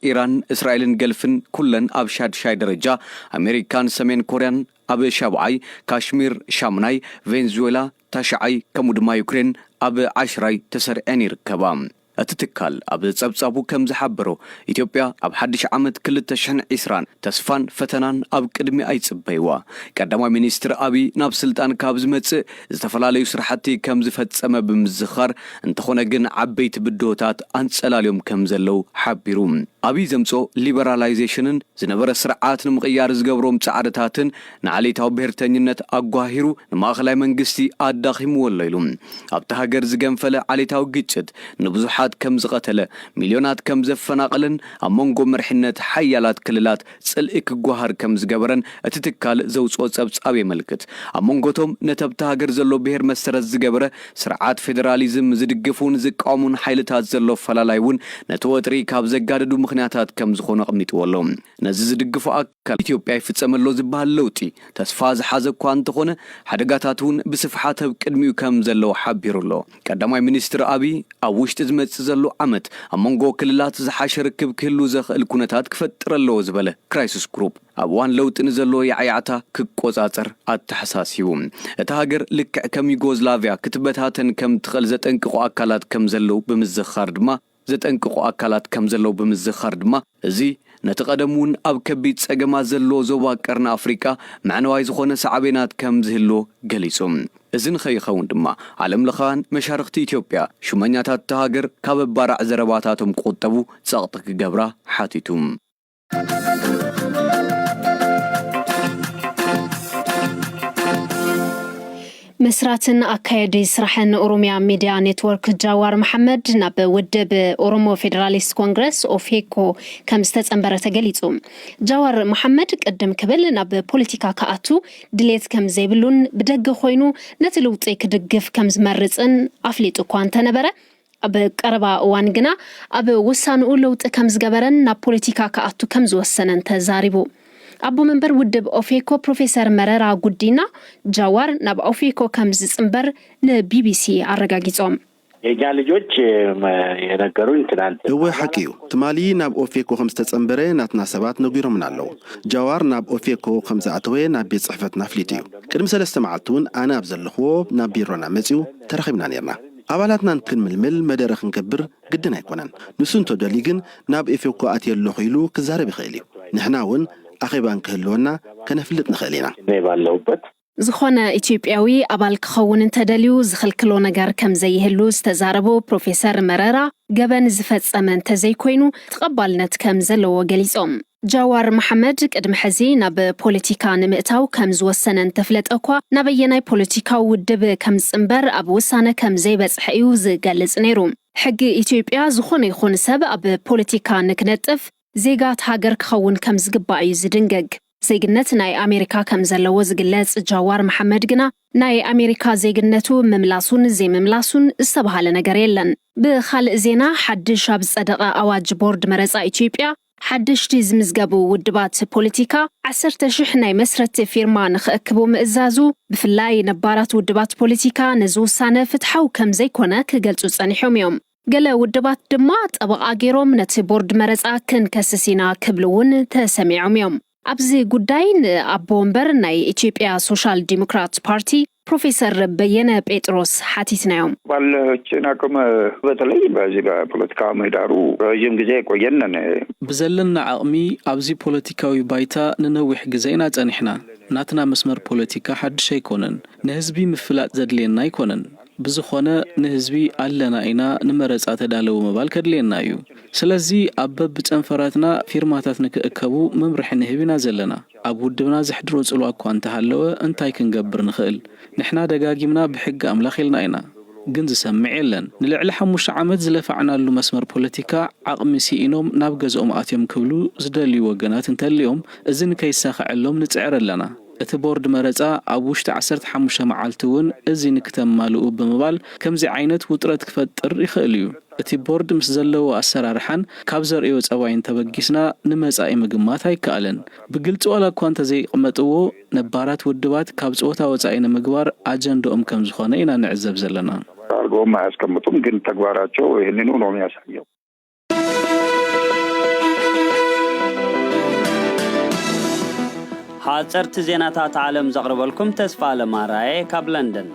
ኢራን፣ እስራኤልን ገልፍን ኩለን ኣብ ሻድሻይ ደረጃ፣ ኣሜሪካን ሰሜን ኮርያን ኣብ ሻብዓይ፣ ካሽሚር ሻምናይ፣ ቬንዙዌላ ታሽዓይ ከምኡ ድማ ዩክሬን ኣብ ዓሽራይ ተሰሪዐን ይርከባ። እቲ ትካል ኣብ ጸብጻቡ ከም ዝሓበሮ፣ ኢትዮጵያ ኣብ ሓድሽ ዓመት ክልተ ሽሕን ዕስራን ተስፋን ፈተናን ኣብ ቅድሚኣ ይጽበይዋ። ቀዳማይ ሚኒስትር ኣብይ ናብ ስልጣን ካብ ዝመጽእ ዝተፈላለዩ ስራሕቲ ከምዝፈፀመ ብምዝኻር፣ እንተኾነ ግን ዓበይቲ ብድሆታት ኣንፀላልዮም ከምዘለው ሓቢሩ። ኣብይ ዘምፅኦ ሊበራላይዜሽንን ዝነበረ ስርዓት ንምቕያር ዝገብሮም ፃዕርታትን ንዓሌታዊ ብሄርተኝነት ኣጓሂሩ ንማእኸላይ መንግስቲ ኣዳኺምዎ ኣሎ ኢሉ። ኣብታ ሃገር ዝገንፈለ ዓሌታዊ ግጭት ንብዙሓት ከምዝቐተለ፣ ሚልዮናት ከምዘፈናቐለን ኣብ መንጎ መሪሕነት ሓያላት ክልላት ጽልኢ ክጓሃር ከም ዝገበረን እቲ ትካል ዘውጽኦ ጸብጻብ የመልክት። ኣብ መንጎ'ቶም ነተ'ብታ ሃገር ዘሎ ብሄር መሰረት ዝገበረ ስርዓት ፌደራሊዝም ዝድግፉን ዝቃወሙን ሓይልታት ዘሎ ኣፈላላይ'ውን ነቲ ወጥሪ ካብ ዘጋደዱ ምኽንያታት ከም ዝኾኑ ኣቕሚጥዎ ኣሎ። ነዚ ዝድግፉ ኣካላት፣ ኣብ ኢትዮጵያ ይፍጸም ኣሎ ዝበሃል ለውጢ ተስፋ ዝሓዘ'ኳ እንተኾነ ሓደጋታት'ውን ብስፍሓት ኣብ ቅድሚኡ ከም ዘለዉ ሓቢሩ ኣሎ። ቀዳማይ ሚኒስትር ኣብይ፣ ኣብ ውሽጢ ዝመፅእ ዘሎ ዓመት ኣብ መንጎ ክልላት ዝሓሸ ርክብ ክህሉ ዘኽእል ኩነታት ክፈጥር ኣለዎ ዝበለ ክራይስስ ግሩፕ፣ ኣብ እዋን ለውጢ ንዘሎ ያዕያዕታ ክቆፃፀር ኣተሓሳሲቡ። እታ ሃገር ልክዕ ከም ዩጎዝላቪያ ክትበታተን ከምትኽእል ዘጠንቅቑ ኣካላት ከምዘለዉ ብምዝኽኻር ድማ፣ ዘጠንቅቑ ኣካላት ከም ዘለዉ ብምዝኻር ድማ፣ እዚ ነቲ ቀደም እውን ኣብ ከቢድ ጸገማት ዘሎ ዞባ ቀርኒ ኣፍሪቃ መዕነዋይ ዝኾነ ሳዕቤናት ከም ዝህልዎ ገሊጹ። እዚ ንኸይኸውን ድማ ዓለምለኻውያን መሻርኽቲ ኢትዮጵያ ሹመኛታት እታ ሃገር ካብ ኣባራዕ ዘረባታቶም ክቑጠቡ ጸቕጢ ክገብራ ሓቲቱ። መስራትን ኣካየዲ ስራሕን ኦሮሚያ ሚድያ ኔትወርክ ጃዋር መሓመድ ናብ ውድብ ኦሮሞ ፌዴራሊስት ኮንግረስ ኦፌኮ ከም ዝተፀንበረ ተገሊፁ። ጃዋር መሓመድ ቅድም ክብል ናብ ፖለቲካ ክኣቱ ድሌት ከም ዘይብሉን ብደገ ኮይኑ ነቲ ልውጢ ክድግፍ ከም ዝመርፅን ኣፍሊጡ እኳ እንተነበረ ኣብ ቀረባ እዋን ግና ኣብ ውሳንኡ ለውጢ ከምዝገበረን ናብ ፖለቲካ ክኣቱ ከምዝወሰነን ተዛሪቡ። ኣቦ መንበር ውድብ ኦፌኮ ፕሮፌሰር መረራ ጉዲና፣ ጃዋር ናብ ኦፌኮ ከምዝጽንበር ንቢቢሲ ኣረጋጊጾም። የኛ ልጆች የነገሩኝ ትናንት። እወ ሓቂ እዩ፣ ትማሊ ናብ ኦፌኮ ከምዝተጸንበረ ናትና ሰባት ነጒሮምና ኣለዉ። ጃዋር ናብ ኦፌኮ ከምዝኣተወ ናብ ቤት ጽሕፈትና ኣፍሊጡ እዩ። ቅድሚ ሰለስተ መዓልቲ'ውን ኣነ ኣብ ዘለኹዎ ናብ ቢሮና መጺኡ ተራኺብና ኔርና። ኣባላትና ንክንምልምል መደረ ክንገብር ግድን ኣይኮነን። ንሱ እንተደልዩ ግን ናብ ኤፌኮ ኣትየ ኣለኹ ኢሉ ክዛረብ ይኽእል እዩ። ንሕና እውን ኣኼባ እንክህልወና ከነፍልጥ ንኽእል ኢና። እኔ ባለሁበት። ዝኾነ ኢትዮጵያዊ ኣባል ክኸውን እንተደልዩ ዝኽልክሎ ነገር ከምዘይህሉ ዝተዛረቡ ፕሮፌሰር መረራ፣ ገበን ዝፈፀመ እንተዘይኮይኑ ተቐባልነት ከምዘለዎ ገሊፆም። ጃዋር መሓመድ ቅድሚ ሕዚ ናብ ፖለቲካ ንምእታው ከም ዝወሰነ እንተፍለጠ'ኳ፣ ናበየናይ ፖለቲካዊ ውድብ ከም ዝጽንበር ኣብ ውሳነ ከም ዘይበጽሐ እዩ ዝገልጽ ነይሩ። ሕጊ ኢትዮጵያ ዝኾነ ይኹን ሰብ ኣብ ፖለቲካ ንክነጥፍ፣ ዜጋ እታ ሃገር ክኸውን ከም ዝግባእ እዩ ዝድንግግ። ዜግነት ናይ ኣሜሪካ ከም ዘለዎ ዝግለጽ ጃዋር መሓመድ ግና፣ ናይ ኣሜሪካ ዜግነቱ ምምላሱን ዘይምምላሱን ዝተበሃለ ነገር የለን። ብኻልእ ዜና፣ ሓድሽ ኣብ ዝጸደቐ ኣዋጅ ቦርድ መረጻ ኢትዮጵያ፣ ሓደሽቲ ዝምዝገቡ ውድባት ፖለቲካ ዓሰርተ ሽሕ ናይ መስረቲ ፊርማ ንክእክቡ ምእዛዙ፣ ብፍላይ ነባራት ውድባት ፖለቲካ ነዚ ውሳነ ፍትሓዊ ከም ዘይኮነ ክገልጹ ጸኒሖም እዮም። ገለ ውድባት ድማ ጠበቓ ገይሮም ነቲ ቦርድ መረጻ ክንከስስ ኢና ክብሉ እውን ተሰሚዖም እዮም። ኣብዚ ጉዳይ ንኣቦ ወንበር ናይ ኢትዮጵያ ሶሻል ዲሞክራት ፓርቲ ፕሮፌሰር በየነ ጴጥሮስ ሓቲትናዮም። ባለችን ኣቅም በተለይ በዚ በፖለቲካዊ ምህዳሩ ረዥም ግዜ የቆየን ነን። ብዘለና ዓቕሚ ኣብዚ ፖለቲካዊ ባይታ ንነዊሕ ግዘ ኢና ፀኒሕና። ናትና መስመር ፖለቲካ ሓዱሽ ኣይኮነን። ንህዝቢ ምፍላጥ ዘድልየና ኣይኮነን። ብዝኾነ ንህዝቢ ኣለና ኢና ንመረጻ ተዳለዉ ምባል ከድልየና እዩ። ስለዚ ኣብ በብጨንፈራትና ፊርማታት ንክእከቡ መምርሒ ንህብ ኢና ዘለና። ኣብ ውድብና ዘሕድሮ ጽልዋ እኳ እንተሃለወ እንታይ ክንገብር ንኽእል? ንሕና ደጋጊምና ብሕጊ ኣምላኽ ኢልና ኢና። ግን ዝሰምዕ የለን። ንልዕሊ ሓሙሽተ ዓመት ዝለፋዕናሉ መስመር ፖለቲካ ዓቕሚ ሲኢኖም ናብ ገዝኦም ኣትዮም ክብሉ ዝደልዩ ወገናት እንተልዮም እዚ ንከይሳኸዐሎም ንጽዕር ኣለና። እቲ ቦርድ መረፃ ኣብ ውሽጢ ዓሰርተ ሓሙሽተ መዓልቲ እውን እዚ ንክተማልኡ ብምባል ከምዚ ዓይነት ውጥረት ክፈጥር ይኽእል እዩ። እቲ ቦርድ ምስ ዘለዎ ኣሰራርሓን ካብ ዘርእዮ ፀባይን ተበጊስና ንመፃኢ ምግማት ኣይከኣልን። ብግልፂ ዋላ እኳ እንተዘይቕመጥዎ ነባራት ውድባት ካብ ፀወታ ወፃኢ ንምግባር ኣጀንድኦም ከምዝኾነ ኢና ንዕዘብ ዘለና። ኣርገኦም ኣያስቀምጡም ግን ተግባራቸው ይህንኑ ነው የሚያሳየው። ሓጸርቲ ዜናታት ዓለም ዘቕርበልኩም ተስፋኣለም ኣርኣየ ካብ ለንደን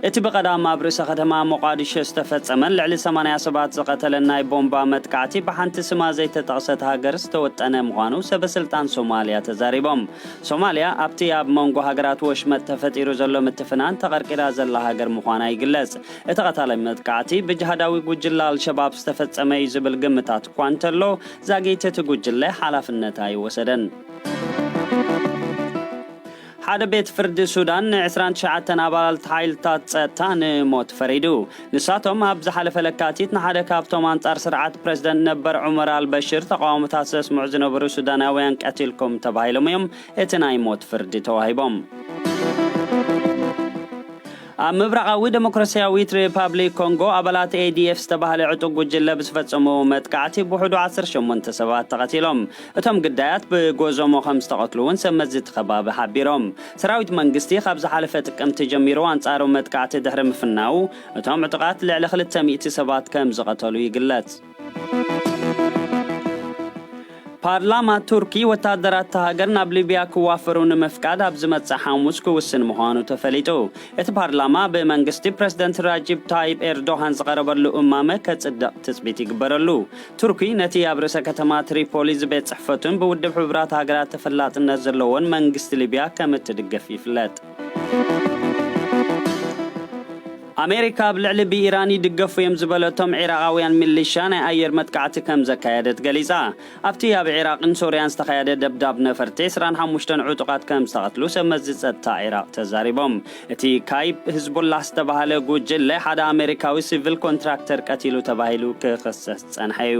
እቲ ብቐዳም ኣብ ርእሰ ከተማ ሞቓዲሾ ዝተፈጸመን ልዕሊ 80 ሰባት ዝቐተለን ናይ ቦምባ መጥቃዕቲ ብሓንቲ ስማ ዘይተጠቕሰት ሃገር ዝተወጠነ ምዃኑ ሰበስልጣን ሶማልያ ተዛሪቦም ሶማልያ ኣብቲ ኣብ መንጎ ሃገራት ወሽመጥ ተፈጢሩ ዘሎ ምትፍናን ተቐርቂራ ዘላ ሃገር ምዃና ይግለጽ እቲ ቐታሊ መጥቃዕቲ ብጅሃዳዊ ጉጅለ ኣልሸባብ ዝተፈጸመ እዩ ዝብል ግምታት እኳ እንተሎ፣ ዛጊት እቲ ጉጅለ ሓላፍነት ኣይወሰደን። ሓደ ቤት ፍርዲ ሱዳን ን ዕስራን ትሽዓተን ኣባላልት ሓይልታት ጸጥታ ንሞት ፈሪዱ። ንሳቶም ኣብ ዝሓለፈ ለካቲት ንሓደ ካብቶም ኣንጻር ስርዓት ፕረዚደንት ነበር ዑመር ኣልበሽር ተቓውሞታት ዘስምዑ ዝነበሩ ሱዳናውያን ቀቲልኩም ተባሂሎም እዮም እቲ ናይ ሞት ፍርዲ ተዋሂቦም። ኣብ ምብራቓዊ ደሞክራስያዊት ሪፓብሊክ ኮንጎ ኣባላት ኤዲኤፍ ዝተባህለ ዕጡቕ ጉጅለ ብዝፈጸምዎ መጥቃዕቲ ብውሕዱ ዓሰርተ ሸሞንተ ሰባት ተቐቲሎም። እቶም ግዳያት ብጎዞሞ ከም ዝተቐትሉ እውን ሰብ መዚ እቲ ከባቢ ሓቢሮም። ሰራዊት መንግስቲ ካብ ዝሓለፈ ጥቅምቲ ጀሚሩ ኣንጻሩ መጥቃዕቲ ድሕሪ ምፍናዉ፣ እቶም ዕጡቓት ልዕሊ ክልተ ሚእቲ ሰባት ከም ዝቐተሉ ይግለጽ። ፓርላማ ቱርኪ ወታደራት እታ ሃገር ናብ ሊብያ ክዋፈሩ ንምፍቃድ ኣብ ዝመጽእ ሓሙስ ክውስን ምዃኑ ተፈሊጡ። እቲ ፓርላማ ብመንግስቲ ፕረዚደንት ራጂብ ታይብ ኤርዶሃን ዝቐረበሉ እማመ ከጽድቕ ትጽቢት ይግበረሉ። ቱርኪ ነቲ ኣብ ርእሰ ከተማ ትሪፖሊ ዝቤት ጽሕፈቱን ብውድብ ሕቡራት ሃገራት ተፈላጥነት ዘለዎን መንግስቲ ሊብያ ከም እትድግፍ ይፍለጥ። ኣሜሪካ ኣብ ልዕሊ ብኢራን ይድገፉ እዮም ዝበለቶም ዒራቓውያን ሚሊሻ ናይ ኣየር መጥቃዕቲ ከምዘካየደት ገሊጻ። ኣብቲ ኣብ ዒራቕን ሶርያን ዝተኻየደ ደብዳብ ነፈርቲ ዕስራን ሓሙሽተን ዕጡቓት ከምዝተቐትሉ ሰብ መዚ ጸጥታ ዒራቕ ተዛሪቦም። እቲ ካይፕ ህዝቡላህ ዝተባህለ ጉጅለ ሓደ ኣሜሪካዊ ሲቪል ኮንትራክተር ቀቲሉ ተባሂሉ ክኽሰስ ዝጸንሐ እዩ።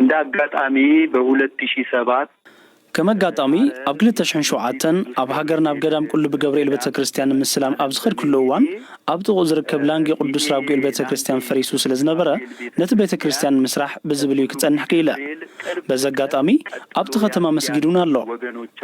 እንደ ኣጋጣሚ በ ሁለት ሺህ ሰባት። ከም ኣጋጣሚ ኣብ ክልተ ሽሕን ሸውዓተን ኣብ ሃገር ናብ ገዳም ቁልቢ ገብርኤል ቤተክርስትያን ንምስላም ኣብ ዝኸድኩሉ እዋን ኣብ ጥቕኡ ዝርከብ ላንጊ ቅዱስ ራጉኤል ቤተክርስትያን ፈሪሱ ስለዝነበረ ነቲ ቤተክርስትያን ንምስራሕ ብዝብል እዩ ክጸንሕ ክኢለ በዚ ኣጋጣሚ ኣብቲ ከተማ መስጊድ እውን ኣሎ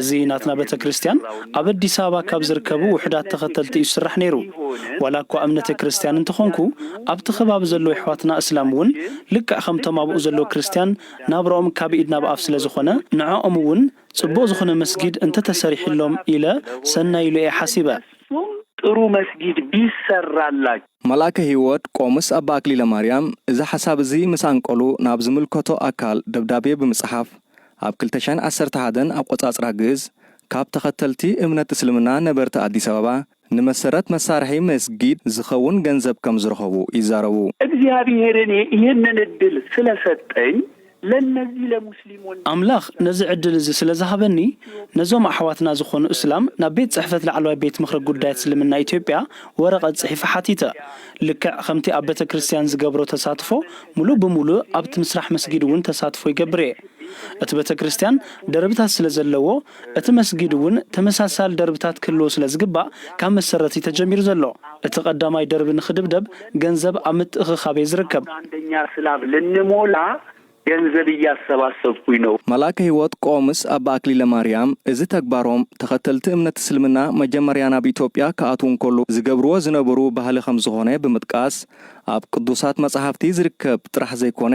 እዚ ናትና ቤተክርስትያን ኣብ ኣዲስ ኣበባ ካብ ዝርከቡ ውሑዳት ተኸተልቲ እዩ ዝስራሕ ነይሩ ዋላ እኳ እምነተይ ክርስትያን እንተኾንኩ ኣብቲ ከባቢ ዘለዉ የሕዋትና እስላም እውን ልክዕ ከምቶም ኣብኡ ዘለዉ ክርስትያን ናብራኦም ካብ ኢድ ናብ ኣፍ ስለ ዝኾነ ንዖኦም እውን ጽቡቕ ዝኾነ መስጊድ እንተ ተሰሪሒሎም ኢለ ሰናይ ኢሉ እየ ሓሲበ። ንሱም ጥሩ መስጊድ ቢሰራላቸው። መልኣከ ህይወት ቆምስ ኣባ ኣክሊለ ማርያም እዚ ሓሳብ እዚ ምስ ኣንቀሉ ናብ ዝምልከቶ ኣካል ደብዳቤ ብምጽሓፍ ኣብ ክልተ ሽሕን ዓሰርተ ሓደን ኣቆጻጽራ ግእዝ ካብ ተኸተልቲ እምነት እስልምና ነበርቲ ኣዲስ ኣበባ ንመሰረት መሳርሒ መስጊድ ዝኸውን ገንዘብ ከም ዝረኸቡ ይዛረቡ። እግዚኣብሔር እኔ ይህንን እድል ስለሰጠኝ ለነዚህ ለሙስሊም ወንድሞቼ ኣምላኽ ነዚ ዕድል እዚ ስለ ዝሃበኒ ነዞም ኣሕዋትና ዝኾኑ እስላም ናብ ቤት ጽሕፈት ላዕለዋይ ቤት ምኽሪ ጉዳያት እስልምና ኢትዮጵያ ወረቐት ጽሒፈ ሓቲተ። ልክዕ ከምቲ ኣብ ቤተ ክርስቲያን ዝገብሮ ተሳትፎ ሙሉእ ብሙሉእ ኣብቲ ምስራሕ መስጊድ እውን ተሳትፎ ይገብር እየ። እቲ ቤተ ክርስቲያን ደርብታት ስለ ዘለዎ እቲ መስጊድ እውን ተመሳሳሊ ደርብታት ክህልዎ ስለ ዝግባእ ካብ መሰረት እዩ ተጀሚሩ ዘሎ። እቲ ቀዳማይ ደርቢ ንኽድብደብ ገንዘብ ኣብ ምትእኽኻብ እየ ዝርከብ። ኣንደኛ ስላብ ልንሞላ ገንዘብ እያሰባሰብኩኝ ነው። መልኣከ ሕይወት ቆምስ ኣባ ኣክሊለ ማርያም እዚ ተግባሮም ተኸተልቲ እምነት እስልምና መጀመርያ ናብ ኢትዮጵያ ክኣትዉ እንከለዉ ዝገብርዎ ዝነበሩ ባህሊ ከምዝኾነ ብምጥቃስ ኣብ ቅዱሳት መጻሕፍቲ ዝርከብ ጥራሕ ዘይኮነ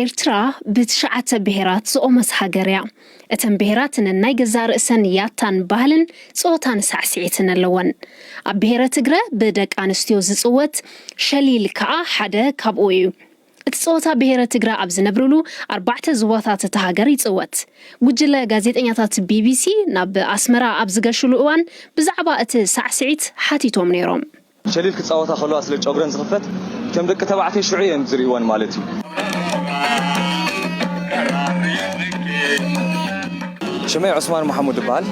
ኤርትራ ብትሽዓተ ብሄራት ዝቖመት ሃገር እያ። እተን ብሄራት ነናይ ገዛእ ርእሰን ያታን ባህልን ጸወታን ሳዕስዒትን ኣለወን። ኣብ ብሄረ ትግረ ብደቂ ኣንስትዮ ዝጽወት ሸሊል ከኣ ሓደ ካብኡ እዩ። እቲ ፀወታ ብሄረ ትግረ ኣብ ዝነብርሉ ኣርባዕተ ዞባታት እታ ሃገር ይፅወት። ጉጅለ ጋዜጠኛታት ቢቢሲ ናብ ኣስመራ ኣብ ዝገሹሉ እዋን ብዛዕባ እቲ ሳዕስዒት ሓቲቶም ነይሮም። ሸሊል ክጻወታ ከለዋ ስለ ጨጉረን ዝኽፈት እቶም ደቂ ተባዕትዮ ሽዑ እየን ዝርእይወን ማለት እዩ። ሽመይ ዑስማን ማሕሙድ እበሃል።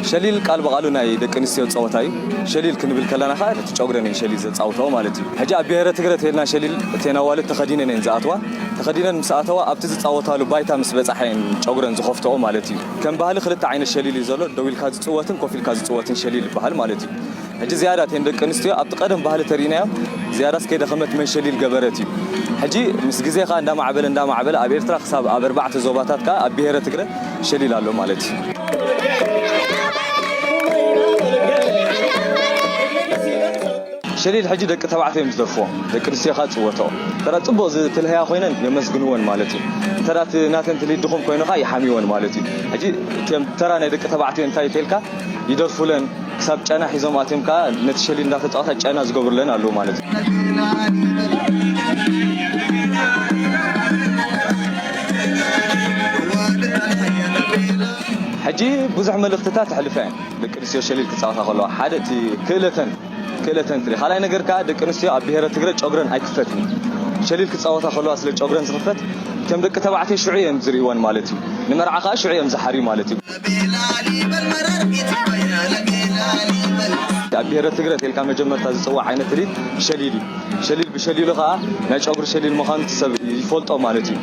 ሸሊል ቃል ብቓሉ ናይ ደቂ ኣንስትዮ ጸወታ እዩ። ሸሊል ክንብል ከለና ከኣ ነቲ ጨጉረን እየን ሸሊል ዘጻውታኦ ማለት እዩ። ሕጂ ኣብ ብሄረ ትግረ ተይልና ሸሊል እተን ኣዋልድ ተኸዲነን እየን ዝኣትዋ። ተኸዲነን ምስ ኣተዋ ኣብቲ ዝጻወታሉ ባይታ ምስ በጻሓ እየን ጨጉረን ዝኸፍትኦ ማለት እዩ። ከም ባህሊ ክልተ ዓይነት ሸሊል እዩ ዘሎ፣ ደው ኢልካ ዝጽወትን ኮፍ ኢልካ ዝጽወትን ሸሊል ይበሃል ማለት እዩ። ሕጂ ዝያዳ እተን ደቂ ኣንስትዮ ኣብቲ ቀደም ባህሊ ተሪእናዮ ዝያዳስ ከይደኸመት መንሸሊል ገበረት እዩ ሕጂ ምስ ግዜ ከኣ እንዳማዕበለ እንዳማዕበለ ኣብ ኤርትራ ክሳብ ኣብ ኣርባዕተ ዞባታት ከኣ ኣብ ብሄረ ትግረ ሸሊል ኣሎ ማለት እዩ። ሸሊል ሕጂ ደቂ ተባዕትዮ እዮም ዝደርፍዎ ደቂ ኣንስትዮ ከኣ ዝጽወትኦ እንተ ጽቡቕ ዝትልህያ ኮይነን የመስግንወን ማለት እዩ እንተ እቲ ናተን ትልሂት ድኹም ኮይኑ ከኣ ይሓምይወን ማለት እዩ ሕጂ እቶም ተራ ናይ ደቂ ተባዕትዮ እንታይ እንተልካ ይደርፉለን ክሳብ ጨና ሒዞም ኣትዮም ከኣ ነቲ ሸሊል እንዳተጻወታ ጨና ዝገብሩለን ኣለዉ ማለት እዩ። ሕጂ ብዙሕ መልእኽትታት የሕልፋ እየን ደቂ ኣንስትዮ ሸሊል ክጻወታ ከለዋ ሓደ እቲ ክእለተን ክእለተን ትርኢ ካልኣይ ነገር ከኣ ደቂ ኣንስትዮ ኣብ ብሄረ ትግረ ጮግረን ኣይክፈትን እዩ ሸሊል ክጻወታ ከለዋ ስለ ጮግረን ዝኽፈት ከም ደቂ ተባዕትዮ ሽዑ እየን ዝርእይወን ማለት እዩ ንመርዓ ከኣ ሽዑ እዮም ዝሓርዩ ማለት እዩ። ኣብ ብሄረ ትግረ ተልካ መጀመርታ ዝጽዋዕ ዓይነት ትርኢት ሸሊል እዩ። ሸሊል ብሸሊሉ ከኣ ናይ ጨጉሪ ሸሊል ምዃኑ እቲ ሰብ ይፈልጦ ማለት እዩ።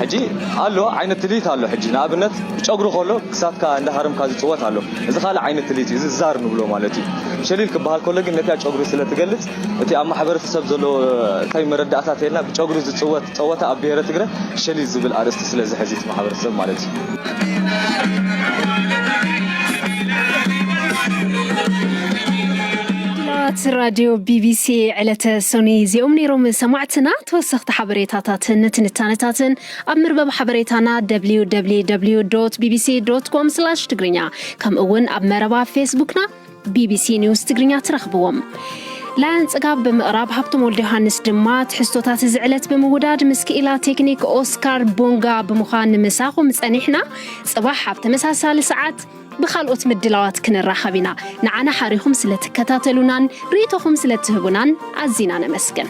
ሕጂ ኣሎ ዓይነት ትልሂት ኣሎ ሕጂ ንኣብነት ብጨጉሪ ከሎ ክሳድካ እንዳሃረምካ ዝጽወት ኣሎ እዚ ካልእ ዓይነት ትልሂት እዩ እዚ ዛር ንብሎ ማለት እዩ። ሸሊል ክበሃል ከሎ ግን ነቲኣ ጨጉሪ ስለ ትገልጽ እቲ ኣብ ማሕበረተሰብ ዘሎ እታይ መረዳእታ ተይልና ብጨጉሪ ዝፅወት ፀወታ ኣብ ብሄረ ትግረ ሸሊዝ ዝብል ኣርእስቲ ስለ ዝሕዝ እቲ ማሕበረተሰብ ማለት ምድላዋት ራድዮ ቢቢሲ ዕለተ ሰኑይ እዚኦም ነይሮም ሰማዕትና ተወሰኽቲ ሓበሬታታትን ትንታነታትን ኣብ ምርበብ ሓበሬታና www ቢቢሲ ኮም ትግርኛ ከምኡ እውን ኣብ መረባ ፌስቡክና ቢቢሲ ኒውስ ትግርኛ ትረኽብዎም። ላያን ጽጋብ ብምቕራብ ሃብቶም ወልደ ዮሃንስ ድማ ትሕዝቶታት እዚ ዕለት ብምውዳድ ምስ ክኢላ ቴክኒክ ኦስካር ቦንጋ ብምዃን ምሳኹም ጸኒሕና ጽባሕ ኣብ ተመሳሳሊ ሰዓት ብካልኦት ምድላዋት ክንራኸብ ኢና ንዓና ሓሪኹም ስለትከታተሉናን ርእይቶኹም ስለትህቡናን ኣዚና ነመስግን